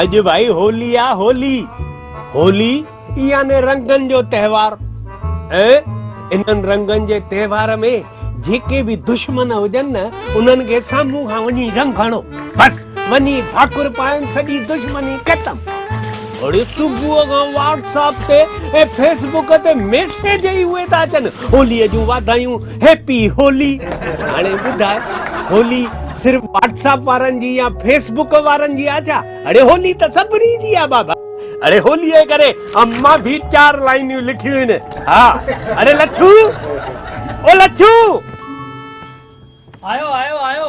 اڄ ڀائي هولي آ هولي هولي يعني رنگن جو تهوار ۽ انهن رنگن جي تهوار ۾ جيڪي به دشمن هجن نه انهن کي سامهون کان وڃي رنگ هڻو بس وڃي ڀاڪر پائن سڄي دشمني ختم اڙي صبح کان واٽس اپ تي ۽ فيسبوڪ تي ميسيج ئي اهي ٿا اچن هولي جون واڌايون هيپي هولي هاڻي ٻڌاء هولي صرف واٽساپ وارن جي يا فيس بڪ وارن جي آ ڇا اڙي هولي ته سڀني جي آ بابا اڙي هولي جي ڪري امان ڀي چار لائنيون لکيون هن ها اڙي لڇو او لڇو آيو آيو آيو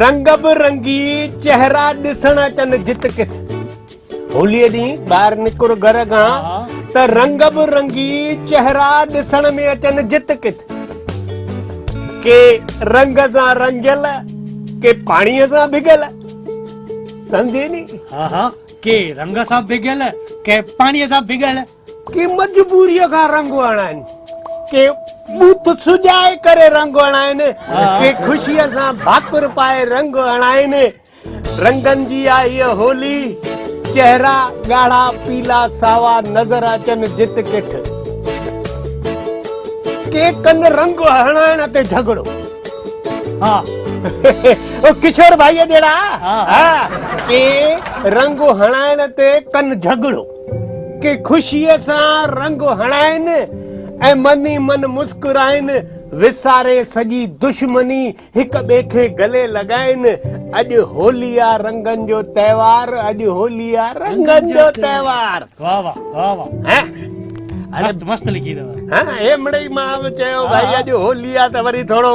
رنگ به رنگي چهرا ڏسڻ اچن جت ڪٿ هولي ڏينهن ٻاهر نڪر گهر کان ته رنگ به رنگي چهرا ڏسڻ ۾ اچن جت ڪٿ ڪي رنگ سان رنگيل ڪي پاڻي سان ڀڳل سمجهي ني ها ها ڪي رنگ سان ڀڳل ڪي پاڻي سان ڀڳل ڪي مجبوريء کان رنگ هڻائن، ڪي بوٿ سجائي ڪري رنگ هڻائن، ڪي خوشيء سان ڀاڪر پائي رنگ هڻائن. رنگن جي آ هيء هولي، چهرا ڳاڙها، پيلا، ساوا نظر اچن جت ڪٺ. ڪي ڪن رنگ هڻائڻ تي جهڳڙو. ها او ڪشور ڀائيء جهڙا. ها ڪي رنگ هڻائڻ تي ڪن جهڳڙو. ڪي خوشيء سان رنگ هڻائين ۽ من ئي من مسڪرائين، وساري سڄي دشمني هڪ ٻئي کي گلي لڳائين، اڄ هولي آ رنگن جو تهوار، اڄ هولي آ رنگن جو تهوار. واھ واھ واھ واھ مست مست لکي اٿو. هي مڙئي مان به چيو ڀائي اڄ هولي آ ته وري ٿورو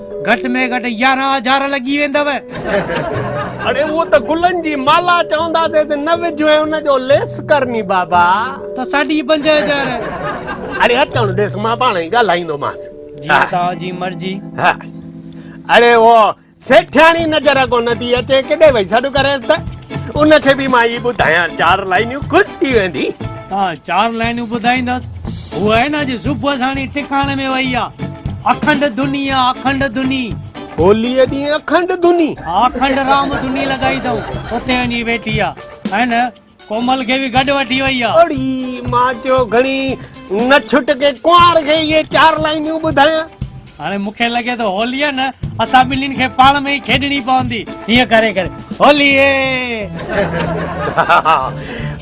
گهٽ ۾ گهٽ يارهن هزار لڳي ويندؤ. اڙي اهو ته گلن جي مالا چونداسينس نه وجهه ۽ ان جو ليس ڪر ني بابا. ته ساڍي پنج هزار. اڙي اچڻ ڏيس مان پاڻ ئي ڳالهائيندومانس. جيئن توهان جي مرضي. ها اڙي اهو سيٺياڻي نظر ڪونه ٿي اچي ڪيڏي وئي سڏ ڪريس ته ان کي به مان هي ٻڌايان چار لائنيون خوش ٿي ويندي. ها چار لائنون ٻڌائيندس. هوء آهي نه اڄ صبح ساڻي ٽڪاڻي ۾ وئي آ. اکنڊ ڌني آ اکنڊ ڌني. هوليء ڏينهن اکنڊ ڌني. ها اکنڊ رام ڌني لڳائي اٿئون. اتي وڃي ويٺي آ. آهي نه ڪومل کي به گڏ وٺي وئي آ. اڙي مان چيو گهڻي نه ڇٽ ڪي ڪنوار کي اهي چار لائنون ٻڌايان. هاڻي مون کي لڳي ٿو هوليء نه اسان ٻنهين کي پاڻ ۾ ئي کيڏڻي پوندي. هيئن ڪري ڪري هوليء!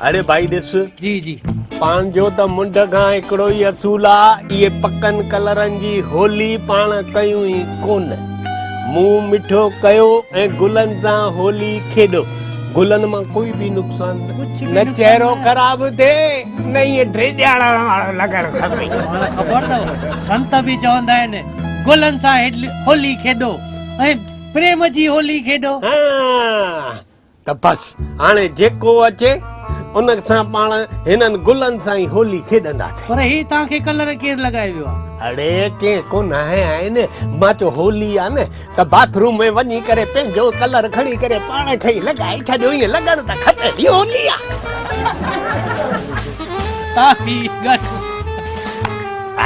اڙي ڀائي ڏس. جي جي. پنهنجو ته منڍ کان هڪڙو ئي اصول آ، اهي پڪن ڪلرن جي هولي پاڻ ڪيون ئي ڪونه. منهن مٺو ڪيو ۽ گلن سان هولي کيڏو. گلن مان ڪوئي بي نقصان نه چهرو خراب ٿي نه هي ڊيڄاڙڻ وارو لڳڻ کپي توهان خبر اٿو سنت به چوندا آهن گلن سان هولي کيڏو ۽ پريم جي هولي کيڏو ها ته بس هاڻي جيڪو اچي ان سان پاڻ هنن گلن سان ئي هولي کيڏندا سي پر هي توهان کي ڪلر ڪير لڳائي ويو آهي اڙي ڪي ڪونه آهي آهن مان چو هولي آهي نه ته باٿ روم ۾ وڃي ڪري پنهنجو ڪلر کڻي ڪري پاڻ کي ئي لڳائي ڇڏيو ائين لڳڻ ته کپي ٿي هولي آ ڪافي گهٽ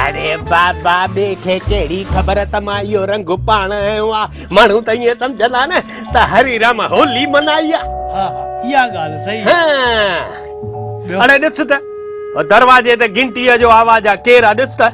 اڙي بابا ٻي کي ڪهڙي خبر ته مان اهو رنگ پاڻ آيو آ ماڻهو ته ائين سمجهندا نه ته هري رام هولي منائي آ ها ها اها ڳالهه صحيح آ اڙي ڏس ته دروازي تي گهنٽيء جو آواز آ ڪير آ ڏس ته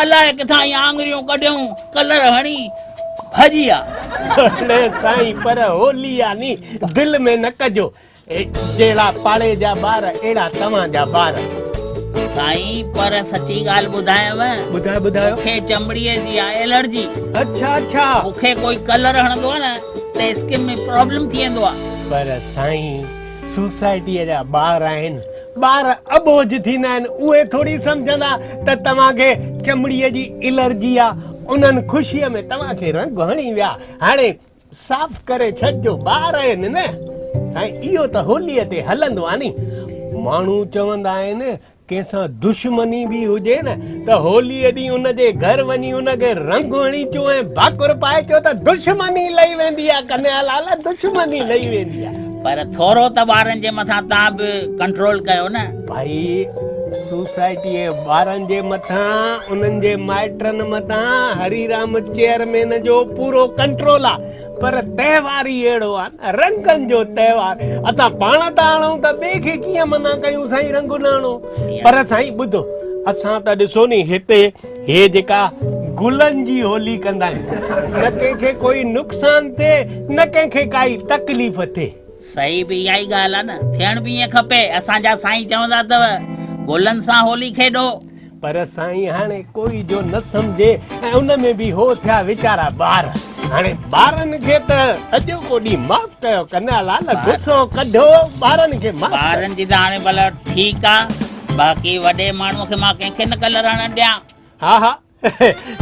الاء ڪٿان هي آڱريون ڪڍيون ڪلر هڻي ڀڄي آ. اڙي سائين پر هولي آ ني دل ۾ نه ڪجو جهڙا پاڙي جا ٻار اهڙا توهان جا ٻار. سائين پر سچي ڳالهه ٻڌايانو. ٻڌايو ٻڌايو. مون کي چمڙي جي آ الرجي. اڇا اڇا. مون کي ڪوئي ڪلر هڻندو آ نه ته اسڪن ۾ پرابلم ٿي ويندو آ. پر سائين. سوسائٽيء جا ٻار آهن. ٻار اٻوجهه ٿيندا آهن. اهي ٿوري سمجهندا ته توهان کي چمڙيء جي الرجي آ. انهن خوشيء ۾ توهان کي رنگ هڻي ويا. هاڻي صاف ڪري ڇڏجو. ٻار آهن نه. سائين اهو ته هوليء تي هلندو آ ني. ماڻهو چوندا آهن ڪنهن سان دشمني به هجي نه ته هوليء ڏينهن ان جي گهر وڃي ان کي رنگ هڻي اچو ۽ ڀاڪر پائي چئو ته دشمني لهي ويندي آهي ڪنهيا لال دشمني لهي ويندي آهي. پر ٿورو ته ٻارن جي مٿان توهان به ڪنٽرول ڪيو نه. ڀائي سوسائٽيء ٻارن جي مٿان انهن جي مائٽن مٿان هريرام چيئرمين جو پورو ڪنٽرول آهي. پر تهوار ئي اهڙو آهي نه رنگن جو تهوار اسان پاڻ ٿا آڻون ته ٻئي کي ڪيئن منع ڪيون سائين رنگ نه آڻو پر سائين ٻڌو اسان ته ڏسو ني هتي هي جيڪا گلن جي هولي ڪندا آهيون نه ڪنهن کي ڪوئي نقصان ٿئي نه ڪنهن کي ڪائي تڪليف ٿئي صحيح به اها ئي ڳالهه آهي نه ٿيڻ به ائين کپي اسان جا سائين چوندا اٿو گلن سان هولي کيڏو پر سائين هاڻي ڪوئي جو نه سمجهي ۽ ان ۾ به هو ٿيا ويچارا ٻار هاڻي ٻارن کي ته اڄو ڪو ڏينهن معاف ڪيو ڪنها لال غصو ڪڍو ٻارن کي معاف ٻارن جي ته هاڻي ڀلا ٺيڪ آ باقي وڏي ماڻهو کي مان ڪنهن کي نه ڪلر هڻڻ ڏيان ها ها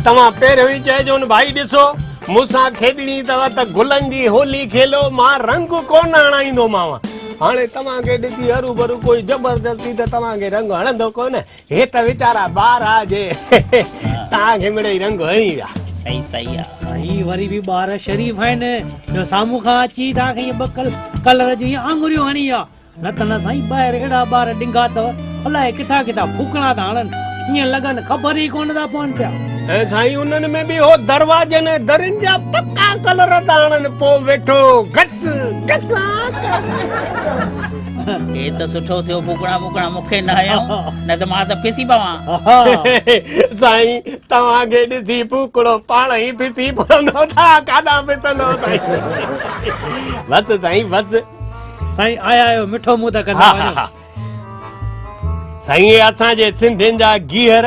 توهان پهريون ئي چئجون ڀائي ڏسو مون سان کيڏڻي اٿو ته گلن جي هولي کيلو مان رنگ ڪونه هڻائيندومانو هاڻي توهان کي ڏسي هروڀرو ڪوئي زبردستي ته توهان کي رنگ هڻندو ڪونه هي ته ويچارا ٻار آ جي ٽانگ هيمڙي ئي رنگ هڻي ويا. صحيح صحيح آ. سائين وري به ٻار شريف آهن جو سامهون کان اچي تان کي ائين ٻڪل ڪلر جون ائين آڱريون هڻي ويا نه ته نه سائين ٻاهر اهڙا ٻار ڊنگا اٿو الائي ڪٿان ڪٿان ڦوڪڻا ٿا هڻن ائين لڳن خبر ئي ڪونه ٿا پون پيا. ۽ سائين انهن ۾ به هو دروازن ۽ درين جا پڪا ڪلر ٿا هڻن پوء ويٺو گس گسان ڪرڻ. هي ته سٺو ٿيو ڀوڳڻا ڀوڳڻا مون کي نه هنيو نه ته مان ته پسي پوان سائين توهان کي ڏسي ڀوڳڙو پاڻ ئي پسي پوندو ٿا ڪاڏا پسندو سائين بس سائين بس سائين آيا آيو مٺو منهن ته ڪندا وڃو سائين اسان جي سنڌين جا گيهر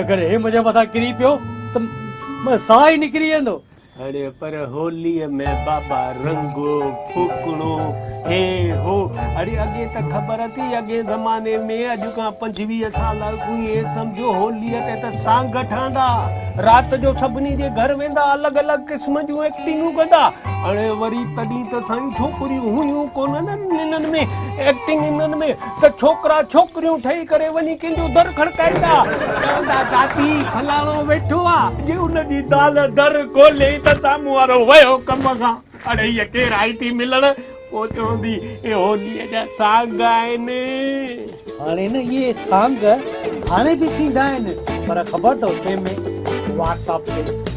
اگر هي منهنجي مٿان ڪري پيو ته منهنجو ساهه ئي نڪري ويندو. اڙي پر هوليء ۾ بابا رنگ ڦوڪڻو هي هو. اڙي اڳي ته خبر اٿئي اڳئين زماني ۾ اڄ کان پنجويهه سال اڳ ائين سمجهو هوليء تي ته سانگ ٺهندا رات جو سڀني جي گهر ويندا الڳ الڳ قسم جون ايڪٽنگون ڪندا اڙي وري تڏهن ته سائين ڇوڪريون هيون ڪونه نه انهن ۾ ايڪٽنگ انهن ۾ ته ڇوڪرا ڇوڪريون ٺهي ڪري وڃي ڪنهن جو در کڙڪائيندا چوندا دادي فلاڻو ويٺو آ جي ان جي زال در کولي ته سامهون وارو ويو ڪم کان اڙي هيء ڪير آئي ٿي ملڻ پوء چوندي اهي هوليء جا سانگ آهن هاڻي نه اهي سانگ هاڻي به ٿيندا آهن پر خبر اٿئي ۾ واٽس اپ تي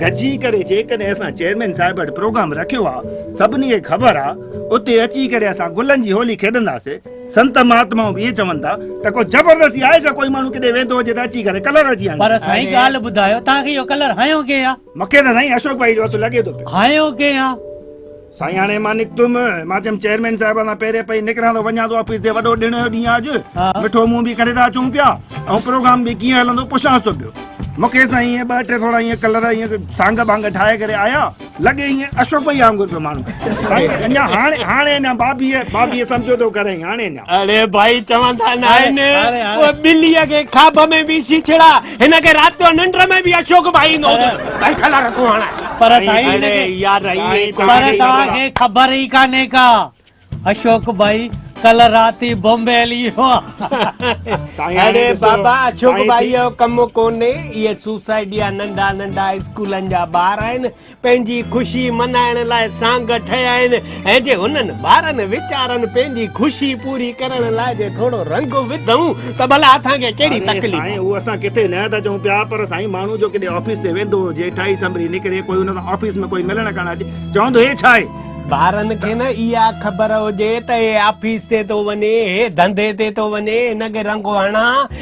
گڏجي ڪري جيڪڏهن اسان چيئرمين صاحب وٽ پروگرام رکيو آ سڀني کي خبر آ اتي اچي ڪري اسان گلن جي هولي کيڏنداسي سنت مهاتمائون به اهي چون ٿا ته ڪو زبردستي آهي ڇا ڪوئي ماڻهو ڪيڏي ويندو هجي ته اچي ڪري ڪلر هجي هڻي پر سائين ڳالهه ٻڌايو توهان کي اهو ڪلر هنيو ڪنهن آ. مونکي ته سائين اشوڪ ڀائي جو هٿ لڳي ٿو پيو. هنيو ڪنهن آ. سائين هاڻي مان نڪتم مان چيم چيئرمين صاحب سان پهرين پئي نڪران ته وڃان ٿو آفيس تي وڏو ڏيڻ جو ڏينهن آج مٺو منهن به ڪري ٿا اچون پيا ۽ پروگرام به ڪيئن هلندو پڇان ٿو پيو مونکي سائين ائين ٻه ٽي ٿورا ائين ڪلر ائين سانگ بانگ ٺاهي ڪري آيا لڳي ائين اشوڪ ڀئي وانگر پيو ماڻهو سائين اڃا هاڻي هاڻي اڃا بابي بابي سمجھو ٿو ڪري هاڻي اڃا اڙي ڀائي چوندا نه آهن ٻلي کي کاٻ ۾ به شيشڙا هن کي رات جو ننڊ ۾ به اشوڪ ڀائي ايندو هوندو ته ڪئين کلر ڪو هڻائي پر سائين پر توهان کي خبر ئي ڪانهي ڪا اشوڪ ڀائي ڪلهه رات ئي بمبي هلي ويو آهي اڙي بابا اشوڪ ڀائي جو ڪم ڪونهي اهي سوسائٽي جا ننڍا ننڍا اسڪولن جا ٻار آهن پنهنجي خوشي منائڻ لاء سانگ ٺهيا آهن ۽ جي هنن ٻارن ويچارن پنهنجي خوشي پوري ڪرڻ لاء جي ٿورو رنگ وڌئون ته ڀلا اسان کي ڪهڙي تڪليف آهي؟ سائين اهو اسان ڪٿي نه ٿا چئون پيا پر سائين ماڻهو جو ڪيڏي آفيس تي ويندو هجي ٺاهي سنڀري نڪري ڪوئي ان سان آفيس ۾ ڪوئي ملڻ ڪرڻ اچي چوندو هي ڇا آهي؟ ٻارن کي نه اها خبر هجي ته هي آفيس تي ٿو وڃي هي ڌنڌي تي ٿو وڃي هن کي رنگ هڻان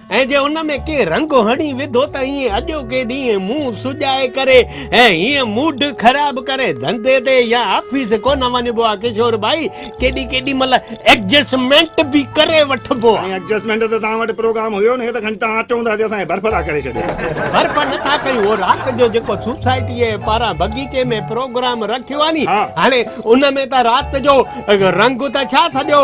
۽ جي ان ۾ ڪنهن رنگ هڻي وڌو ته ائين اڄوڪي ڏينهن منهن سجائي ڪري ۽ هيئن موڊ خراب ڪري ڌنڌي تي يا آفيس ڪونه وڃبو آهي ڪشور ڀائي ڪيڏي ڪيڏي مهل ايڊجسٽمينٽ به ڪري وٺبو آهي. سائين ايڊجسٽمينٽ ته توهان وٽ پروگرام هيو نه ته کڻي توهان اچو ته اڄ اسان کي برف ٿا ڪري ڇڏيو. برف نٿا ڪيون اهو رات جو جيڪو سوسائٽيء پاران بغيچي ۾ پروگرام رکيو آهي ني هاڻي ان ۾ ته رات جو رنگ ته ڇا سڄو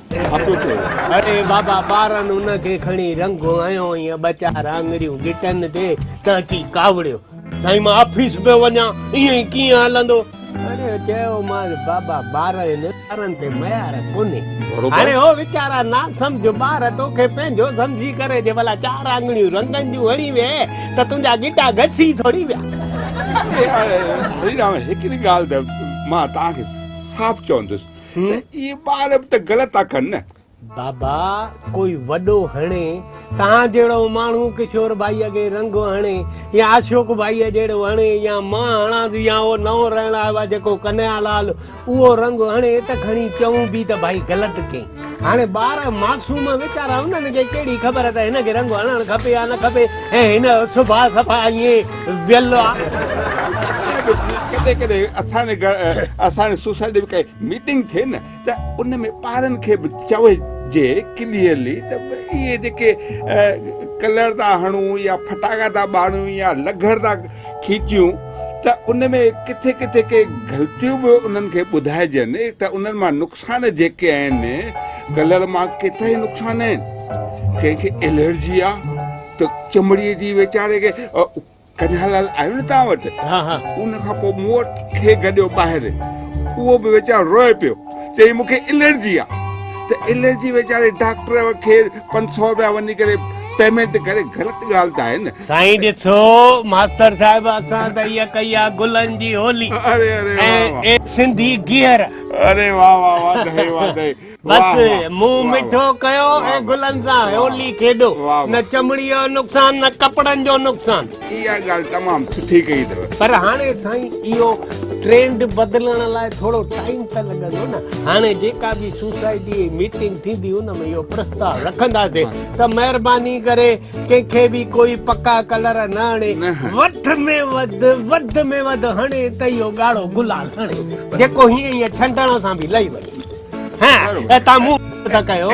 اڙي بابا ٻارن ان کي کڻي رنگ هنيو ۽ ٻچار آڱريون ڳٽن تي ته اچي ڪاوڙيو. سائين مان آفيس پيو وڃان، ائين ئي ڪيئن هلندو؟ اڙي چيومانس بابا ٻارن ٻارن تي ميار ڪونهي. هاڻي هو ويچارا ناسمجهه ٻار توکي پنهنجو سمجهي ڪري جي ڀلا چار آڱريون رنگن جون هڻي ويهي ته تنهنجا ڳٽا گسي ٿوري ويا. اڙي هريرام هڪڙي ڳالهه ته مان توهان کي صاف چوندس. ته اهي ٻار به ته غلط ٿا ڪن نه. بابا ڪوئي وڏو هڻي توهان جهڙو ماڻهو ڪشور ڀائي کي رنگو هڻي يا اشوڪ ڀائي جهڙو هڻي يا مان هڻانس يا اهو نئون رهڻ آيو آهي جيڪو ڪنهيا لال اهو رنگ هڻي ته کڻي چئون به ته ڀائي غلط ڪئين هاڻي ٻار معصوم ويچارا انهن کي ڪهڙي خبر ته هن کي رنگ هڻڻ کپي يا نه کپي ۽ هن جو سڀاء صفا ائين ويل آ. ائين به ڪڏهن ڪڏهن اسان جي گهر اسان جي سوسائٽي ۾ ڪائي ميٽنگ ٿئي نه ته ان ۾ ٻارن کي به چوجي ڪليئرلي ته اهي جيڪي ڪلر ٿا هڻون يا ڦٽاڪا ٿا ٻاريون يا لگهر ٿا کيچيون ته ان ۾ ڪٿي ڪٿي ڪي غلطيون به انهن کي ٻڌائجن ته انهن مان نقصان نقصان جيڪي آهن ڪلر مان ڪيترا ئي نقصان آهن ڪنهن کي الرجي آ ته چمڙي جي ويچاري کي ڪنهن لال آيو نه تان وٽ ها ها ان کان پوء مون وٽ کي گڏيو ٻاهر اهو به ويچارو روئي پيو چي مون کي الرجي آ ته الرجي ويچاري ڊاڪٽر کي 500 رپيا وڃي ڪري پيمنٽ ڪري غلط ڳالهه ته آهي نه سائين ڏسو ماستر صاحب اسان ته اها ڪئي آ گلن جي هولي اري اري سنڌي گيهر اري واه واه واڌايون واڌايون بس منهن مٺو ڪيو ۽ گلن سان هولي کيڏو نه چمڙي جو نقصان نه ڪپڙن جو نقصان اها ڳالهه تمام سٺي ڪئي اٿو پر هاڻي سائين اهو ٽرينڊ بدلڻ لاء ٿورو ٽائيم ته لڳندو نه هاڻي جيڪا به سوسائٽي ميٽنگ ٿيندي ان ۾ اهو پرستاء رکنداسين ته مهرباني ڪري ڪنهن کي به ڪوئي پڪا ڪلر نه هڻي وٺ ۾ وڌ وڌ ۾ وڌ هڻي ته اهو ڳاڙهو گلال هڻي جيڪو هيئن هيئن ڇنڊڻ سان به لهي وڃي ها تان مون ته ڪيو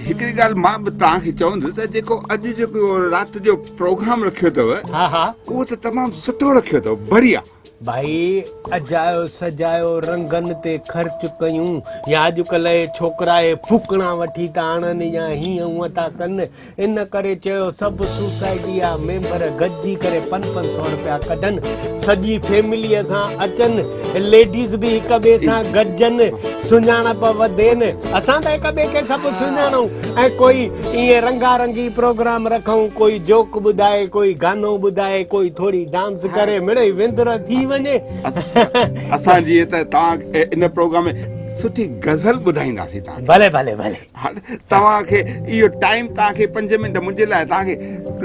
هڪڙي ڳالهه مان به توهان کي چوندس ته جيڪو اڄ جيڪو رات جو پروگرام رکيو اٿو ها ها اهو ته تمام سٺو رکيو اٿو بڙيا ڀائي اجايو سجايو رنگن تي خرچ ڪيون يا اڄڪلهه اهي ڇوڪرا اهي ڦوڪڻا وٺي ٿا آڻن يا هيئن هونئن ٿا ڪن ان ڪري چيو سڀ سوسائٽي جا ميمبر گڏجي ڪري پن پن سو رپيا ڪڍن سڄي فيمليء سان اچن ليڊيز به هڪ ٻئي سان گڏجن سڃاڻپ وڌين اسان ته هڪ ٻئي کي سڀ سڃاڻون ۽ ڪوئي ائين رنگا رنگي پروگرام رکون ڪوئي جوڪ ٻڌائي ڪوئي گانو ٻڌائي ڪوئي ٿوري ڊانس ڪري مڙئي وندر ٿي وڃي اسان جي ته تان ان پروگرام ۾ سٺي غزل ٻڌائيندا سي تان ڀلي ڀلي ڀلي توهان کي ايو ٽائيم تان کي 5 منٽ منجي لاء تان کي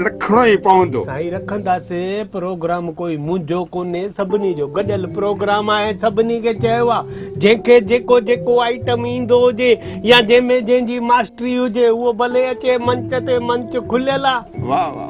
رکڻو ئي پوندو سائي رکندا سي پروگرام ڪوئي منجو ڪوني سڀني جو گڏل پروگرام آهي سڀني کي چيوا جنهن کي جيڪو جيڪو آئٽم ايندو هجي يا جنهن ۾ جنهن جي ماستري هجي هو ڀلي اچي منچ تي منچ کليل آ واهه واهه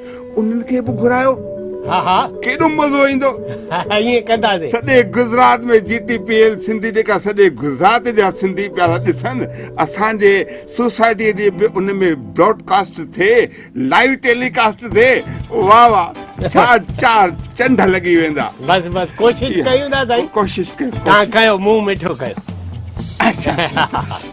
انهن کي به گهرايو ها ها ڪيڏو مزو ايندو ائين ڪنداسين سڄي Gujarat ۾ G T P L Sindhi جيڪا سڄي گجرات جا سنڌي پيا ڏسن اسان جي سوسائٽي جي به ان ۾ براڊ ڪاسٽ ٿئي لائيو ٽيلي ڪاسٽ ٿئي واهه واهه چار چار چنڊ لڳي ويندا بس بس ڪوشش ڪيون ٿا سائين ڪوشش ڪيو تان ڪيو مون مٺو ڪيو اچھا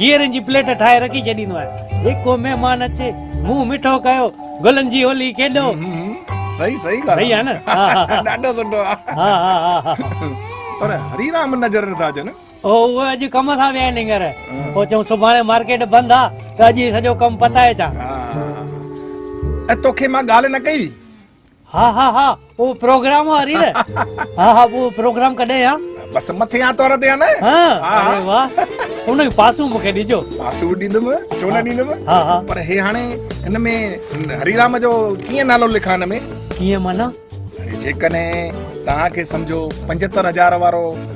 گيرن جي پليٽ ٺاهي رکي ڇڏيندو آهيان جيڪو مهمان اچي منهن مٺو ڪيو گلن جي هولي کيڏو صحيح صحيح ڳالهه صحيح آ نه ڏاڍو سٺو آ ها ها ها پر هري رام نظر نه ٿا اچن او اهي اڄ ڪم سان ويا آهن هينئر پوء چون سڀاڻي مارڪيٽ بند آ ته اڄ ئي سڄو ڪم پتائي اچان ها ۽ توکي مان ڳالهه نه ڪئي هئي ها ها ها او پروگرام واري نه ها ها او پروگرام ڪڏهن ها بس مٿي ها تور تي ها نه ها اري واه ان جو پاسو مونکي ڏجو پاسو ڏيندم ڇو نه ڏيندم ها ها پر هي هاڻي ان ۾ هري رام جو ڪيئن نالو لکان ان ۾ ڪيئن معنی جيڪڏهن توهان کي سمجهو 75000 وارو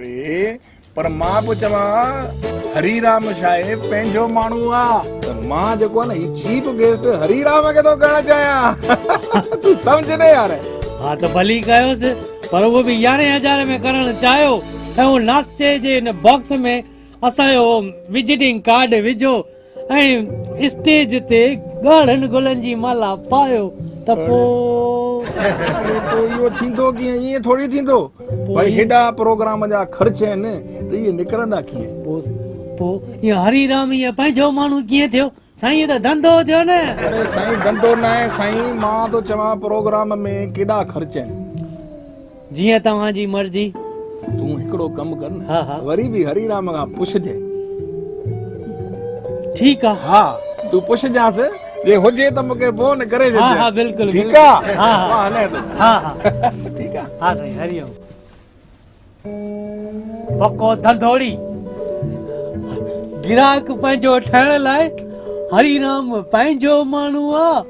ري پر مان پيو چوان هري رام شاهي پنهنجو ماڻهو آ ته مان جيڪو آ نه هي چيف گيسٽ هري رام کي ٿو ڪرڻ چاهيان تون سمجهه نه يار ها ته ڀلي ڪيوس پر اهو به يارهين هزار ۾ ڪرڻ چاهيو ۽ هو ناشتي جي ان باڪس ۾ اسان جو وزيٽنگ ڪارڊ وجهو ۽ اسٽيج تي ڳاڙهن گلن جي مالا پايو ته پوء. اهو ٿيندو ڪيئن؟ ائين ٿوري ٿيندو. ڀائي هيڏا پروگرام جا خرچ آهن ته اهي نڪرندا ڪيئن؟ پوء اهو هري رام هيء پنهنجو ماڻهو ڪيئن ٿيو؟ سائين اهو ته ڌنڌو ٿيو نه. اڙي سائين ڌنڌو ناهي سائين مان ٿو چوان پروگرام ۾ ڪيڏا خرچ آهن. جيئن توهان جي مرضي. تون هڪڙو ڪم ڪر نه. ها ها. وري به هري رام کان پڇجانء. ٺيڪ آ. ها تون پڇجانس جي هجي ته مونکي فون ڪري ڇڏجانء. ها ها بلڪل. ٺيڪ آ. ها ها. مان هلان ٿو. ها ها. ٺيڪ آ. ها سائين هري اوم. پڪو ڌنڌوڙي. گراهڪ پنهنجو ٺهڻ لاء هري رام پنهنجو ماڻهو آ.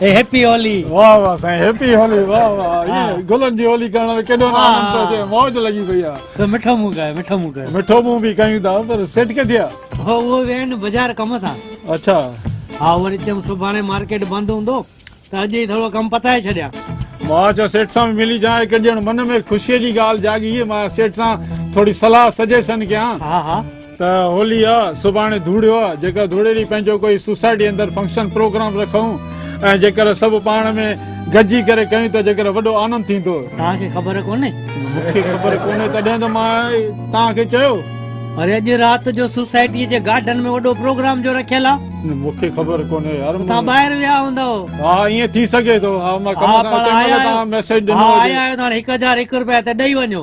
هيپي هولي واه واه سائين هيپي هولي واه واه اي گلن جي هولي ڪرڻ ۾ ڪيڏو نه آنند پيو اچي موج لڳي پئي آ ته مٺو مون ڪاهي مٺو مون ڪاهي مٺو مون به ڪاهيون ٿا پر سيٽ ڪٿي آ هو اهو ويا آهن بازار ڪم سان اڇا ها وري چيم سڀاڻي مارڪيٽ بند هوندو ته اڄ ئي ٿورو ڪم پتائي ڇڏيان مان چيو سيٽ سان ملي جان هڪ ڄڻ من ۾ خوشي جي ڳالهه جاڳي مان سيٽ سان ٿوري صلاح سجيشن ڪيان ها ها ته هولي آ سڀاڻي ڌوڙيو آ جيڪر ڌوڙي ڏينهن پنهنجو ڪوئي سوسائٽي اندر فنڪشن پروگرام رکون ۽ جيڪر سڀ پاڻ ۾ گڏجي ڪري ڪيون ته جيڪر وڏو آنند ٿيندو توهان کي خبر ڪونهي مون کي خبر ڪونهي تڏهن ته مان توهان کي چيو اري اڄ رات جو سوسائٽي جي گارڊن ۾ وڏو پروگرام جو رکيل آ مون کي خبر ڪونهي يار توهان ٻاهر ويا هوندؤ ها ائين ٿي سگهي ٿو ها مان ڪم سان اتي مل توهان ميسيج ڏنو هجي ها آيا آهيو ته هاڻي 1001 رپيا ته ڏئي وڃو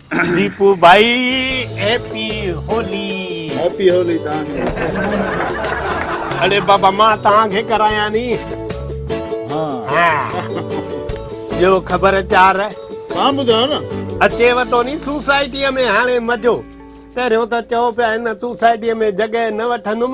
ديپو ڀائي هيپي هولي هيپي هولي تان اڙي بابا مان تان کي ڪرايا ني ها جو خبر چار سان ٻڌايو نه اچي وتو ني سوسائٽي ۾ هاڻي مزو پهريو ته چئو پيا هن سوسائٽي ۾ جڳهه نه وٺندم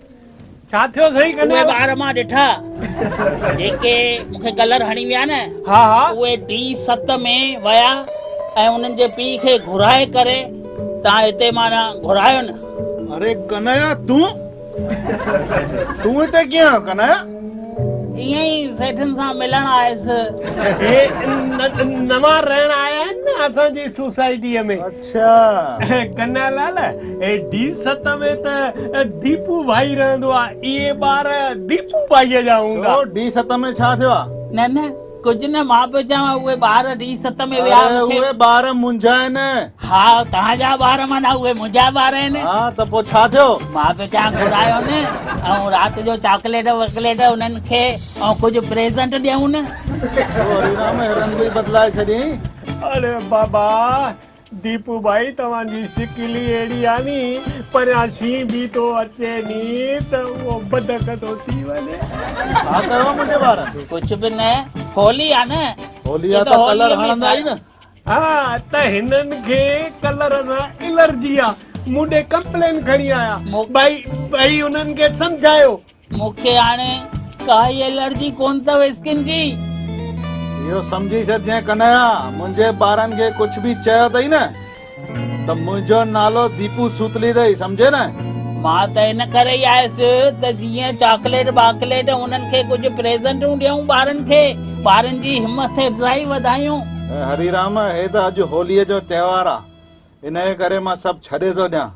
ڇا ٿيو سائين ڪنهن اهي ٻار مان ڏٺا جيڪي مون کي ڪلر هڻي ويا نه ها ها اهي ڊي ست ۾ ويا ۽ انهن جي پيء کي گهرائي ڪري تان هتي مانا گهرايو نه اري ڪنايا تون تون هتي ڪيئن آيو ڪنايا ائين ئي سيٺن سان ملڻ آيس هي نوان رهڻ آيا آهن نه اسان جي سوسائٽيء ۾ اڇا ڪنا لال اي ڊي ست ۾ ته ديپو ڀائي رهندو آ اهي ٻار ديپو ڀائي جا هوندا ڇو ڊي ست ۾ ڇا ٿيو آ نه نه ڪجهه نه مان پيو چوان اهي ٻار ڊي ست ۾ ويا آهن مونکي اهي ٻار منهنجا آهن ها توهان جا ٻار معنيٰ اهي منهنجا ٻار آهن ها ته پوء ڇا ٿيو مان پيو چوان گهرايو نه ۽ رات جو چاڪليٽ واڪليٽ انهن کي ۽ ڪجهه پريزنٽ ڏيون نه تو هري رام هرن به بدلائي ڇڏين اڙي بابا ديپو ڀائي توهان جي شڪل ئي اهڙي آهي ني پريان شينهن به ٿو اچي ني ته اهو بدڪ ٿو ٿي وڃي. ڇا ڪيو آهي منهنجي ٻار؟ ڪجهه به نه هولي آهي نه. هولي آهي ته ڪلر هڻندا ئي نه. ها ته هنن کي ڪلر سان الرجي آهي مون ڏي ڪمپلين کڻي آيا ڀائي انهن کي سمجهايو مون کي هاڻي ڪائي الرجي ڪونه اٿو اسڪن جي. اهو سمجهي ڇڏ جنهن ڪنهيا منهنجي ٻارن کي ڪجهه به چيو اٿئي نه ته منهنجو نالو ديپو سوتلي اٿئي سمجهي نه. مان ته ان ڪري ئي آيس ته جيئن چاڪليٽ باڪليٽ انهن کي ڪجهه پريزنٽون ڏيون ٻارن کي ٻارن جي همٿ افزائي وڌايون. هريرام هي ته اڄ هوليء جو تهوار آ انهيء ڪري مان سڀ ڇڏي ٿو ڏيان.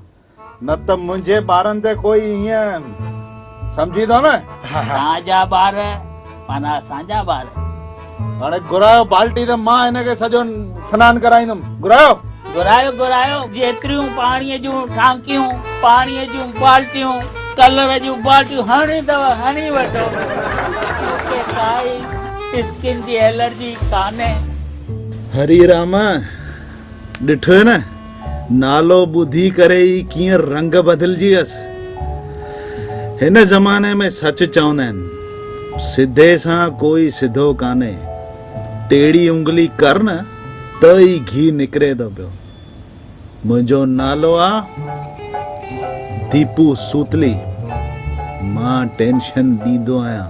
نه ته منهنجي ٻارن تي ڪوئي ائين سمجهي ٿو نه. توهان جا ٻار معنيٰ اسان جا ٻار. هاڻي گهرايو بالٽي ته مان هن کي سڄو سنان ڪرائيندم. گهرايو. گهرايو گهرايو جيتريون پاڻيء جون ٽانڪيون، پاڻيء جون بالٽيون، ڪلر جون بالٽيون هڻڻيون اٿو هڻي وٺو. مون کي ڪائي اسڪن جي الرجي ڪانهي. هري راما ڏٺوئي نه. نالو ٻڌي ڪري ئي ڪيئن رنگ بدلجي ويس. هن زماني ۾ سچ چوندا آهن، سڌي سان ڪوئي سڌو ڪانهي. ٽيڙي انگلي ڪر نه ته ئي گهي نڪري ٿو پيو. منهنجو نالو آ ديپو سوتلي. مان ٽينشن ڏيندو آهيان.